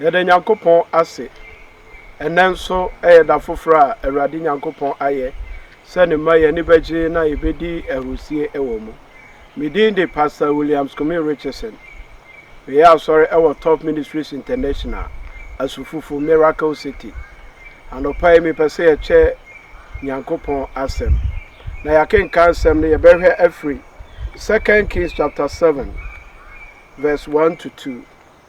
Yɛda Nyankopɔn ase, ɛnnɛ nso yɛ da foforɔ a Awurade Nyankopɔn ayɛ sɛ Ne mma yɛn ani bɛgye na yɛbɛdi ahurusie wɔ mu. Me din de Pastor Williams Kumi Richardson. Meyɛ asɔre wɔ Top Ministries International, Asufufu, Miracle City. Anɔpa yi mepɛ sɛ yɛkyɛ Nyankopɔn asɛm. Na yɛakenkan asɛm no yɛbɛhwɛ afiri 2 Kings chapter 7 verse 1 to 2.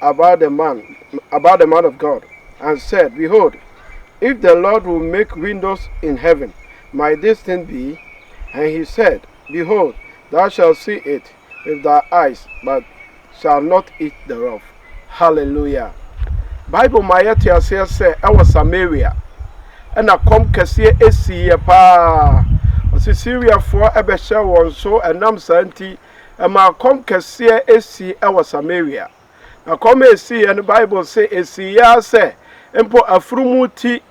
about the man, about the man of God, and said, Behold, if the Lord will make windows in heaven, might this thing be? And he said, Behold, thou shalt see it with thy eyes, but shalt not eat thereof. Hallelujah. Bible ma yɛte aseɛ sɛ ɛwɔ Samaria ɛna kɔm kɛseɛ esiiɛ paa ɔsi Syriafoɔ ɛbɛhyɛ wɔn so ɛnam saa nti ɛmaa kɔm kɛseɛ sii wɔ Samaria. Na kɔm a ɛsiiɛ no, Bible se ɛsiiɛ ara sɛ mpo afunumu ti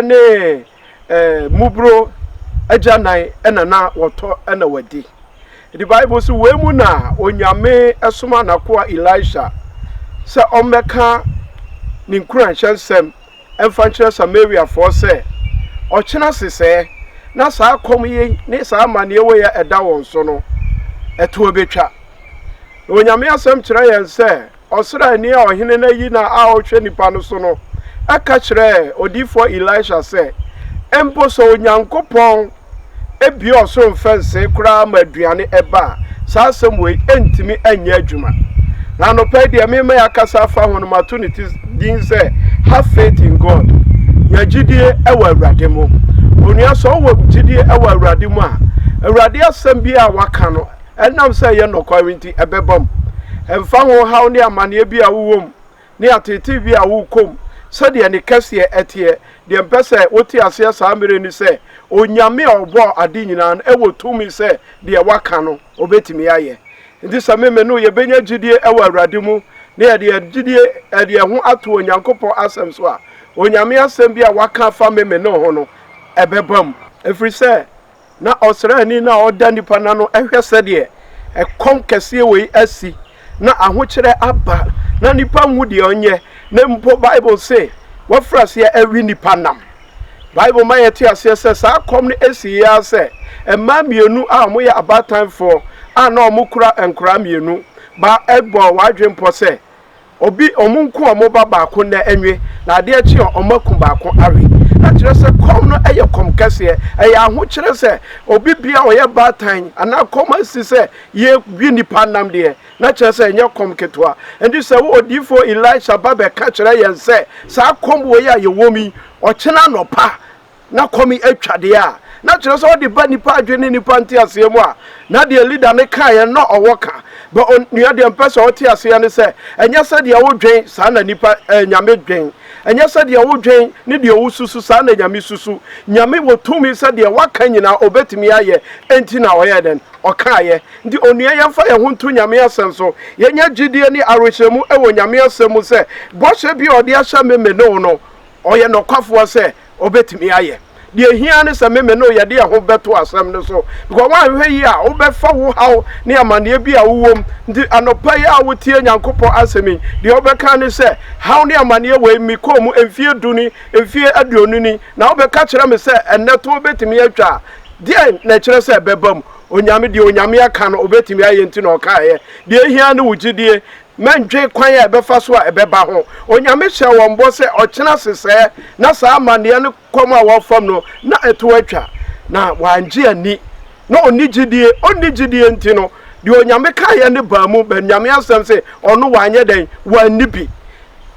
ne mmuburo agyanan na na wɔtɔ na wɔadi. Nti Bible se wei mu na Onyame somaa n'akoa Elisha sɛ ɔmmɛka ne nkuranhyɛ nsɛm mfa nkyerɛ Samariafoɔ sɛ, Ɔkyena sesɛɛ na saa kɔm yi ne saa amaneɛ wei a ɛda wɔn so no, ɛtoɔ bɛtwa. Na Onyame asɛm kyerɛ yɛn sɛ, ɔsraani a ɔhene no ayi no a ɔhwɛ nnipa no so no ka kyerɛɛ odiyifoɔ Elisha sɛ, Mpo sɛ Onyankopɔn Ebia ɔsoro mfa nsee koraa ma aduane ɛba a, saa asɛm wei ntumi nyɛ adwuma. Na anɔpa yi deɛ mema yɛakasa afa ho no mato ne ti din sɛ have faith in God. Nya gyidie wɔ Awurade mu. Onua sɛ ɔwɔ gyidie wɔ Awurade mu a, Awurade asɛm bi a waka no ɛnam sɛ ɛyɛ nɔkware nti ɛbɛbam. Ɛmfa ho haw ne amanneɛ bi a wowɔ mu. ne ateetee bi a wokɔ mu sɛdeɛ ne kɛseɛ teɛ. Deɛ mpɛ sɛ wote aseɛ saa mmerɛ yi ne sɛ, Onyame a ɔbɔɔ ade nyinaa no wɔ tumi sɛ deɛ waka no ɔbɛtumi ayɛ. Nti sɛ me me ne wo yɛbɛnya gyidie wɔ Awurade mu na yɛde yɛn gyidie de yɛn ho ato Onyankopɔn asɛm so a, Onyame asɛm bi a waka afa me me ne wo ho no bɛbam. Ɛfiri sɛ na ɔsraani no a ɔda nnipa no ano hwɛ sɛdeɛ ɛkɔm kɛseɛ wei asi na ahokyerɛ aba na nipa nhu deɛ ɔnyɛ na mpo bible se wafiri aseɛ awi nipa nam bible ma yɛte aseɛ sɛ saa kɔm no asi yɛ ara sɛ mmaa mmienu a wɔyɛ abaatanfoɔ a na wɔkura nkoraa mmienu ba ɛbɔ wɔadwempɔ sɛ Obi ɔmo nko a ɔmo ba baako nnɛ ɛnwe na adeɛ kye a ɔmo aku baako awe na kyerɛ sɛ kɔm no ɛyɛ kɔm kɛseɛ ɛyɛ ahokyerɛ sɛ obi bia ɔyɛ baatan anaa kɔm asi sɛ yɛ we nipa nam deɛ na kyerɛ sɛ ɛnyɛ kɔm ketewa ɛnti sɛ wo odiyifoɔ Elisha ba bɛka kyerɛ yɛn sɛ saa kɔm wei a yɛwɔ mu yi ɔkyena anɔpa na kɔm atwa deɛ a, na kyerɛ sɛ ɔde ba nnipa adwene ne nnipa nteaseɛ mu a, na deɛ leader no kaeɛ na ɔwɔ ka. But onua deɛ mpɛ sɛ ɔte aseɛ ne sɛ, ɛnyɛ sɛdeɛ wodwen saa na nnipa, eh, Nyame dwen. Ɛnyɛ sɛdeɛ wodwen ne deɛ wosusu saa na Nyame susu. Nyame wɔ tumi sɛ deɛ waka nyinaa ɔbɛtumi ayɛ, enti na ɔyɛɛ dɛn? Ɔkaeɛ. Nti onua yɛmfa yɛn ho nto Nyame asɛm so. Yɛnya gyidie ne awerehyɛmu wɔ Nyame asɛm mu sɛ bɔhyɛ bi a ɔde ahyɛ me me ne wo no, Ɔyɛ nokwafoɔ sɛ ɔbɛtumi ayɛ. Deɛ ɛhia ara ne sɛ me me no yɛde yɛn ho bɛto asɛm no so because woanhwɛ yie a wobɛfa wo haw ne amanneɛ bi a wowɔ mu. Nti anɔpa yi a wotie Nyankopɔn asɛm yi, deɛ wobɛka ne sɛ, haw ne amanneɛ wei mekɔɔ mu mfeɛ du ni, mfeɛ aduonu ni, na wobɛka kyerɛ me sɛ ɛnnɛ toɔ bɛtumi atwa a, deɛn na ɛkyerɛ sɛ ɛbɛba mu? Onyame, deɛ Onyame aka no ɔbɛtumi ayɛ nti na ɔkaeɛ. Deɛ ɛhia ara ne wo gyedie. Mɛndwen kwan a ɛbɛfa so a ɛbɛba ho. Onyame hyɛɛ wɔn bɔ sɛ ɔkyena sesɛɛ na saa amanneɛ no kɔm a wɔrefam no na ɛtow atwa. Na wɔangye anni. Na ɔnni gyidie. Ɔnni gyidie nti no, deɛ Onyame kaeɛ no baa mu, but Nyame asɛm se ɔno wanyɛ dɛn? Wanni bi.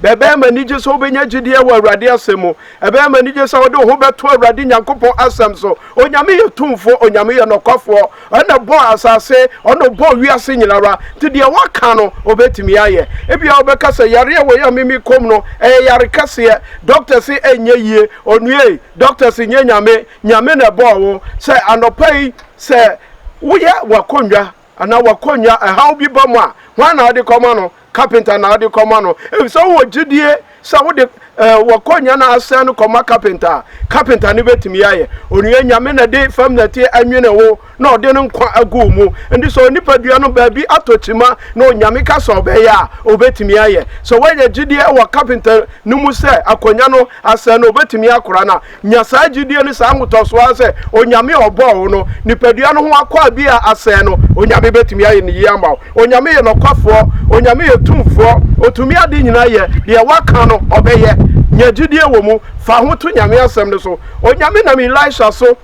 Bɛ ɛbɛyɛ me anigye sɛ wobɛnya gyidie wɔ Awurade asɛm mu. Ɛbɛyɛ me anigye sɛ wode wo ho bɛto Awurade Nyankopɔn asɛm so. Onyame yɛ tumfoɔ. Onyame yɛ nɔkwafoɔ. Ɔna ɔbɔɔ asase, ɔna ɔbɔɔ wiase nyinara, nti deɛ waka no ɔbɛtumi ayɛ. Ebia wobɛka sɛ yareɛ wei a Mimi kɔm no ɛyɛ yare kɛseɛ, dɔkta se ɛnyɛ yie, onua ei, dɔkta se nyɛ Nyame, Nyame na ɛbɔɔ wo, sɛ anɔpa yi sɛ woyɛ w'akonnwa anaa w'akonnwa ɛhaw bi ba mu a, hwan na wode kɔma no? kapenta na wode kɔma no efisɛ wowɔ gyidie sɛ wode eh, wɔkɔ nya na asɛn no kɔma kapenta a kapenta no bɛtumi ayɛ onua nyame na de fam nɛteɛ anwene wo na ɔde no nkwa agu mu nti sɛ onipadua no baabi atɔ kyima na onyame ka sɛ ɔbɛyɛ a ɔbɛtumi ayɛ sɛ woanya gyidie wɔ kapenta no mu sɛ akɔnya no asɛn no ɔbɛtumi akora no a Nya saa gyidie ne saa ahotɔsoɔ ara sɛ Onyame a ɔbɔɔ wo no, nipadua no ho akwaa bi a asɛe no, Onyame bɛtumi ayɛ no yie ama wo. Onyame yɛ nɔkwafoɔ. Onyame yɛ tumfoɔ. Ɔtumi ade nyinaa yɛ. Deɛ Waka no, Ɔbɛyɛ. Nya gyidie wɔ mu. Fa ho to Nyame asɛm no so. Onyame nam Elisha so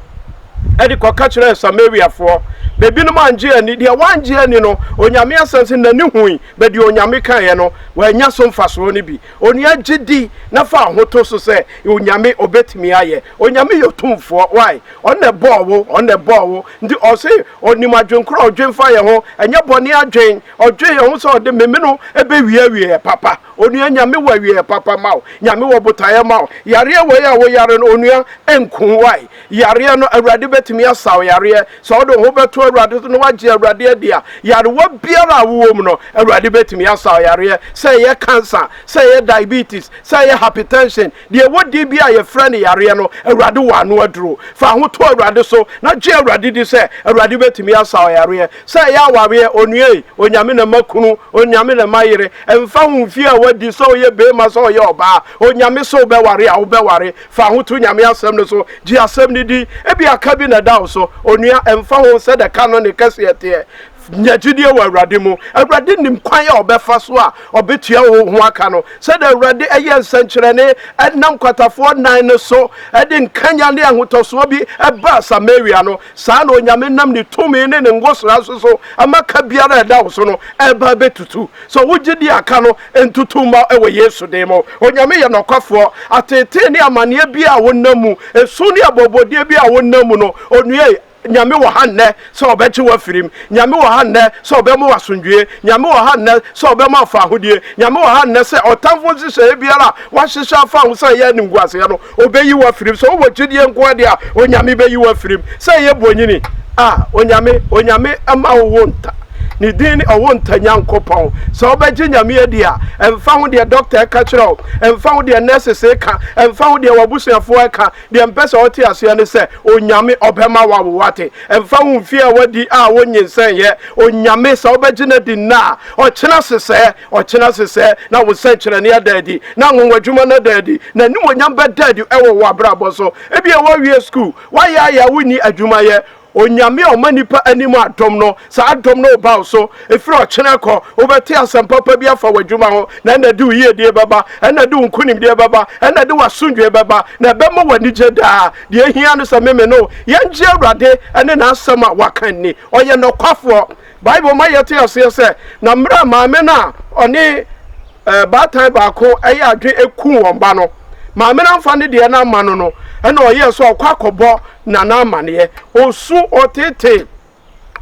de kɔka kyerɛɛ Samariafoɔ. Bɛbinom angye anni. Deɛ wangye anni no, Onyame asɛm se, N'ani hui, but deɛ Onyame kaeɛ no, wannya so mfasoɔ no bi. Onua gye di na fa ahoto so sɛ Onyame obetumi ayɛ. Onyame yɛ otumfoɔ why? Ɔno na ɛbɔɔ wo, ɔno na ɛbɔɔ wo nti ɔse ɔnim adwen korɔ a ɔdwen fa yɛn ho ɛnyɛ bɔne adwen, ɔdwen yɛn ho sɛ ɔde me me no bɛwie awieɛ papa. Onua Nyame wɔ awieɛ papa ma wo, Nyame wɔ botaeɛ ma wo, yareɛ wei a wo yare no onua ɛnku wo why? Yareɛ no, Awurade bɛtumi asa wo yareɛ. Sɛ wode wo ho bɛto Awurade so na woagye Awurade adi a, yarewa biara a wowɔ mu no, Awurade bɛtumi asa wo yareɛ. Sɛ ɛyɛ cancer, sɛ ɛyɛ diabetes, sɛ ɛyɛ hypertension, deɛ ɛwɔ din biara a yɛfrɛ no yareɛ no, Awurade wɔ ano aduro. Fa wo ho to Awurade so na gye Awurade di sɛ Awurade bɛtumi asa wo yareɛ. Sɛ ɛyɛ awareɛ, onua ei, Onyame na ɛma kunu, Onyame na ɛma yere. Ɛmfa ho mfeɛ a woadi, sɛ woyɛ barima, sɛ woyɛ ɔbaa, Onyame se wobɛware a, wobɛware. Fa wo ho to Nyame Asɛm no so. Gye Asɛm no di. Ebia ka bi na ɛda wo so. Onua, ɛmfa ho sɛ nea ɛka no ne kɛseɛ teɛ, nya gyidie wɔ Awurade mu. Awurade nim kwan a ɔbɛfa so a ɔbɛtua wo ho aka no. Sɛdeɛ Awurade yɛɛ nsɛnkyerɛnne nam nkwatafoɔ nnan no so de nkanyan ne ahotɔsoɔ bi baa Samaria no, Saa na Onyame nam ne tumi ne ne ngosra nso so ama ka biara a ɛda wo so no ɛreba abɛtutu. Sɔ wo gyedie a ka no ntutu mma wɔ Yesu din mu. Onyame yɛ nɔkwafoɔ. Ateetee ne amaneɛ biara a wonam mu, esu ne abɔbɔdie biara a wonam mu no, Onua yi, Nyame wɔ ha nnɛ sɛ ɔbɛgye wo afiri mu. Nyame wɔ ha nnɛ sɛ ɔbɛma wo asomdwoeɛ. Nyame wɔ ha nnɛ sɛ ɔbɛma wo fahodie. Nyame wɔ ha nnɛ sɛ ɔtamfo nhyehyɛeɛ biara a wahyehyɛ afa wo ho sɛ ɛyɛ animguaseɛ no, Obeyi wo afiri mu. Sɛ wowɔ gyidie nko ara deɛ a, Onyame bɛyi wo afiri mu. Sɛ ɛyɛ bonyini a, Onyame, Onyame mma ɔwo nta. Ne din ne ɔwo nta Nyankopɔn. Sɛ wobɛgye Nyame adi a, ɛmfa ho deɛ dɔkta reka kyerɛ wo, ɛmfa ho deɛ nurses reka, ɛmfa ho deɛ w'abusuafoɔ reka, deɛ mpɛ sɛ wote aseɛ ne sɛ, Onyame ɔbɛma wawo wate. Ɛmfa ho mfeɛ a woadi a wonyinsɛnyɛ, Onyame, sɛ wobɛgye no adi nnɛ a, ɔkyena sesɛɛ. Ɔkyena se sɛ na wo sɛnkyerɛnne ada adi, na anwonwadwuma no ada adi, na animuonyam bɛda adi wɔ wo abrabɔ so. Ebia woawie sukuu, woayɛ ayɛ a wonni adwuma yɛ. Onyame a ɔma nnipa anim adom no, saa adom no reba wo so. Ɛfiri ɔkyena kɔ, wobɛte asɛm papa bi afa w'adwuma ho, na ɛna ɛde wo yiedie bɛba, ɛna ɛde wo nkonimdie bɛba, ɛna ɛde w'asomdwoeɛ bɛba, na ɛbɛma wo anigye daa. Deɛ ɛhia ne sɛ me me ne wo, yɛngye Awurade ne N'asɛm a Waka nni. Ɔyɛ nɔkwafoɔ. Bible ma yɛte aseɛ sɛ, na mmerɛ a maame no a ɔne baatan baako yɛ adwene ku wɔn ba no, maame no amfa ne deɛ no amma no no, ɛna ɔyɛɛ sɛ ɔkɔ akɔbɔ nana amaneɛ. Ɔsu, ɔtetee,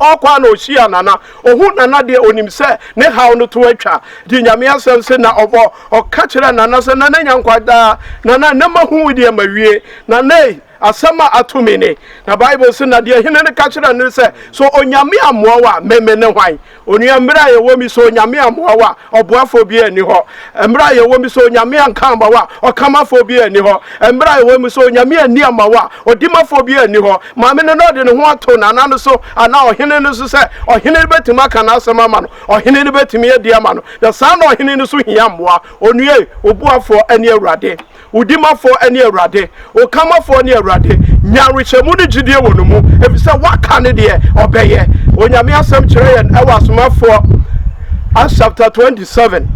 ɔkɔ a na ɔhyia nana, ɔhu nana deɛ ɔnim sɛ ne haw no to atwa. Nti Nyame asɛm se na ɔbɔ, ɔka kyerɛ nana sɛ, nana nya nkwa daa, nana nnɛ mahu wo deɛ mawie, nana ei, Asɛm a ato me ni. Na Bible se, Na deɛ ɔhene no ka kyerɛɛ no ne sɛ, So Onyame ammoa wo a, me mene hwan? Onua, mmerɛ a yɛwɔ mu yi, sɛ Onyame ammoa wo a, ɔboafoɔ biara nni hɔ. Mmerɛ a yɛwɔ mu yi, sɛ Onyame anka amma wo a, ɔkamafoɔ biara nni hɔ. Mmerɛ a yɛwɔ mu yi, sɛ Onyame anni amma wo a, ɔdimafoɔ biara nni hɔ. Maame no, na ɔde ne ho ato nana no so anaa ɔhene no so sɛ ɔhene no bɛtumi aka n'asɛm ama no, ɔhene no bɛtumi adi ama no. Na saa na ɔhene no nso hia mmoa. Onua ei, wo boafoɔ ne Awurade. Wo Dimafoɔ ne Awurade, wo Kanmafoɔ ne Awurade. Nya awerehyɛmu ne gyidie wɔ No mu, ɛfiri sɛ Waka ne deɛ Ɔbɛyɛ. Onyame Asɛm kyerɛ yɛn wɔ Asomafoɔ, Acts chapter 27,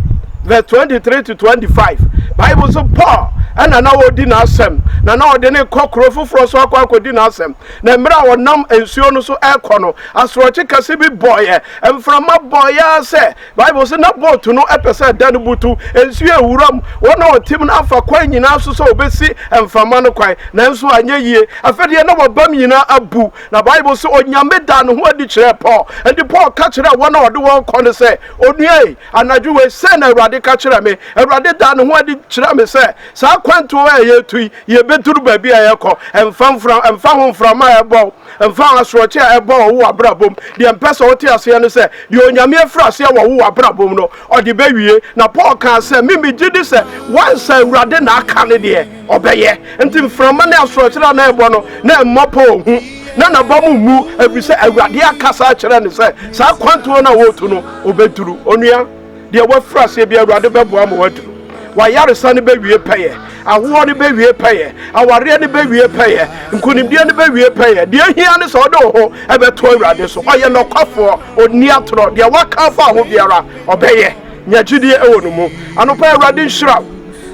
verse 23 to 25. Bible nso Paul ɛna na ɔdi n'asɛm, na na ɔde ne kɔ kuro foforɔ so akɔ akɔdi n'asɛm. Na mmerɛ a ɔnam nsuo no so ɛrekɔ no, asorɔkye kɛse bi bɔeɛ, mframa bɔeɛ sɛ Bible se, na boat no pɛ sɛ ɛda no butu, nsu yɛ wuram, wɔn a wɔtem no afa kwan nyinaa so sɛ wɔbɛsi mframa no kwan, nanso anyɛ yie. Afei deɛ, na wɔabam nyinaa abu. Na Bible se, Onyame daa ne ho adi kyerɛɛ Paul. Enti Paul ka kyerɛɛ wɔn a ɔde wɔn rekɔ no sɛ, Onua ei, anadwo wei, sei na Awurade ka kyerɛɛ me. Awurade daa ne ho adi kyerɛɛ me sɛ, saa kwantuo a yɛretu yi, yɛbɛduru baabi a yɛrekɔ, ɛmfa ho mframa a ɛbɔ. Mfa asorɔkye a ɛbɔ wɔ wo abrabɔ mu. Deɛ mpɛ sɛ wote aseɛ ne sɛ, deɛ Onyame afiri aseɛ wɔ wo abrabɔ mu no, Ɔde bɛwie. Na Paul kaa sɛ, Me megye di sɛ wansa Awurade na aka ne deɛ Ɔbɛyɛ. Nti mframa ne asorɔkyere a na ɛbɔ no, na ɛmmɔ Paul hu. Na n'aba mu mmu, ɛfiri sɛ Awurade akasa akyerɛ no sɛ saa kwantuo no a ɔretu no, ɔbɛduru. Onua. Deɛ wafiri aseɛ bi, Awurade bɛboa ma waduru. W'ayaresa no bɛwie pɛyɛ, ahoɔ no bɛwie pɛyɛ, awareɛ no bɛwie pɛyɛ, nkonimdie no bɛwie pɛyɛ. Deɛ hia ne sɛ wode wo ho ɛbɛto Awurade so. Ɔyɛ nɔkwafoɔ, ɔnni atorɔ. Deɛ waka afa ho biara, ɔbɛyɛ. Nya gyidie wɔ ne mu. Anɔpa yi, Awurade nhyira wo.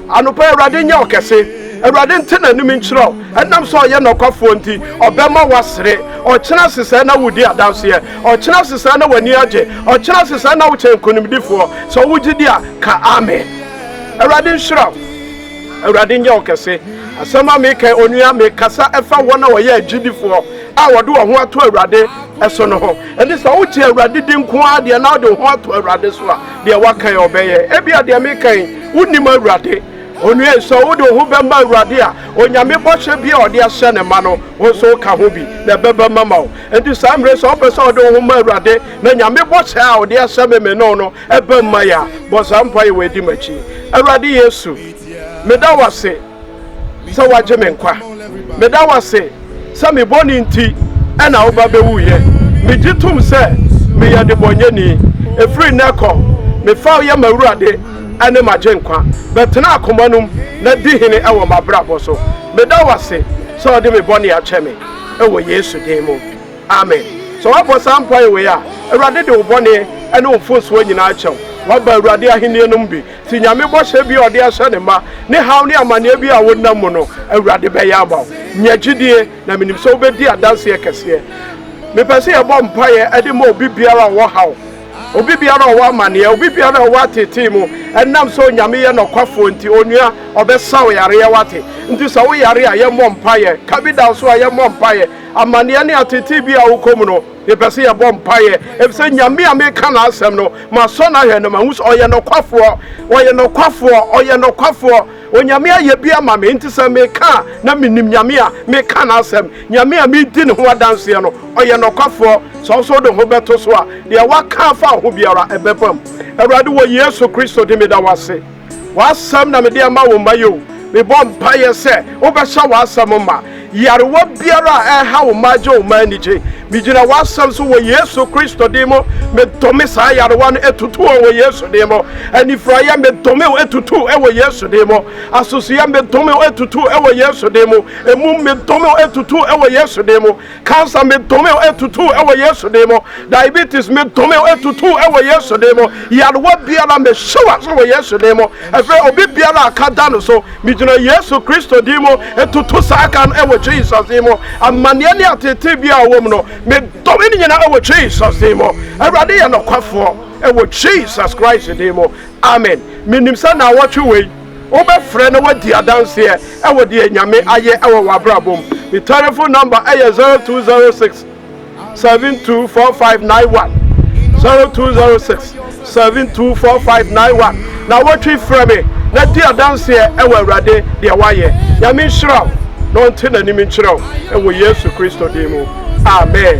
Anɔpa yi, Awurade nyɛ wo kɛse. Awurade nte n'anim nkyerɛ wo. Ɛnam sɛ ɔyɛ nɔkwafoɔ nti, ɔbɛma woasere. Ɔkyena sesɛɛ na woredi adanseɛ. Ɔkyena sesɛɛ na w'ani agye. Ɔkyena sesɛɛ na wokyɛn nkonimdifoɔ. Sɛ wowɔ gyidie a, ka Amen. Awurade nhyira wo. Awurade nyɛ wo kɛse. Asɛm a meka yi, onua, mekasa fa wɔn a wɔyɛ agyidifoɔ a wɔde wɔn ho ato Awurade so no ho. Ɛnti sɛ wogye Awurade di nko ara deɛ na wode wo ho ato Awurade so a, deɛ waka yi ɔbɛyɛ ebia deɛ meka yi wonim awurade onua sɛ wode wo ho bɛma awurade a onyame bɔhyɛ bi a ɔde ahyɛ ne ma no wo nso woka ho bi na ɛbɛba mama wo nti saa mmerɛ sɛ wopɛ sɛ wode wo ho ma awurade na nyame bɔhyɛ a ɔde ahyɛ me me no no ɛba mma yɛ a bɔ saa mpa yɛ wɔadi m'akyi awurade yesu meda wase sɛ woagye me nkwa. Meda wo ase sɛ me bɔne nti na wo ba bɛwuiɛ. Megye tom sɛ meyɛ debɔnyɛni. Ɛfiri nnɛ kɔ, mefa wo yɛ m'Awurade ne m'Agyenkwa. Bɛtena akoma nom na di hene wɔ m'abrabɔ so. Meda wo ase sɛ wode me bɔne akyɛ me. Wɔ Yesu din mu, amen. Sɛ woabɔ saa mpaeɛ wei a, Awurade de wo bɔne ne wo mfomsoɔ nyinaa akyɛ wo. Woaba Awurade Ahennie nom bi. Te Nyame bɔhyɛ bi a ɔde ahyɛ ne mma, ne haw ne amaneɛ bi a wonam mu no, Awurade bɛyɛ ama wo. Nya gyidie, na menim sɛ wobɛdi adanseɛ kɛseɛ. Mepɛ sɛ yɛbɔ mpaeɛ de ma obi biara a ɔwɔ haw, obi biara a ɔwɔ amaneɛ, obi biara a ɔwɔ ateetee mu, ɛnam sɛ Onyame yɛ nɔkwafoɔ nti, Onua, Ɔbɛsa wo yareɛ, woate? Nti sɛ wo yare a, yɛmmɔ mpaeɛ. Ka bi da wo so a, yɛmmɔ mpaeɛ. Amaneɛ ne ateetee bi a wokɔ mu no, Yɛpɛ sɛ yɛbɔ mpaeɛ, efisɛ Nyame a meka n'asɛm no, masɔ no ahwɛ na mahu sɛ ɔyɛ nɔkwafoɔ, ɔyɛ nɔkwafoɔ, ɔyɛ nɔkwafoɔ. Onyame ayɛ bi ama me, nti sɛ meka a, na menim Nyame a meka n'asɛm. Nyame a medi ne ho adanseɛ no, ɔyɛ nɔkwafoɔ. Sɛ wo nso wode wo ho bɛto so a, deɛ woaka afa wo ho biara, ɛbɛbam. Awurade, wɔ Yesu Kristo din mu, meda wo ase. W'asɛm na mede ama wo mma yi o. Mebɔ mpaeɛ sɛ wobɛhyɛ w'asɛm ma. Yarewa biara a ɛreha wo mma agye wo mma anigye. Megyina w'asɛm so wɔ Yesu Kristo din mu. Medome saa yarewa no ɛtutu wɔn wɔ Yesu din mu. Anifuraeɛ medome wo ɛtutu wɔ Yesu din mu. Asosoeɛ medome wo ɛtutu wɔ Yesu din mu. Ɛmum medome wo ɛtutu wɔ Yesu din mu. Cancer medome wo atutu wɔ Yesu din mu. Diabetes medome wo atutu wɔ Yesu din mu. Yarewa biara mehyɛ wo ase wɔ Yesu din mu. Ɛfɛ obi biara a ka da no so megyina Yesu Kristo din mu tutu saa ka no wɔ Jesus din mu. Amaneɛ ne ateetee biara a wɔm no medome ne nyinaa wɔ Jesus din mu. Awurade yɛ nɔkwafoɔ wɔ Jesus Christ din mu. Amen. Menim sɛ naawɔtwe wei. Wobɛfrɛ na woadi adanseɛ wɔ deɛ Nyame ayɛ wɔ w'abrabɔ mu. Me telephone number yɛ 0206 72 4591, 0206 72 4591. Na wɔtwe frɛ me na di adanseɛ wɔ Awurade deɛ wayɛ. Nyame nhyira wo na ɔnte n'anim nkyerɛ wo wɔ Yesu Kristo din mu, amen.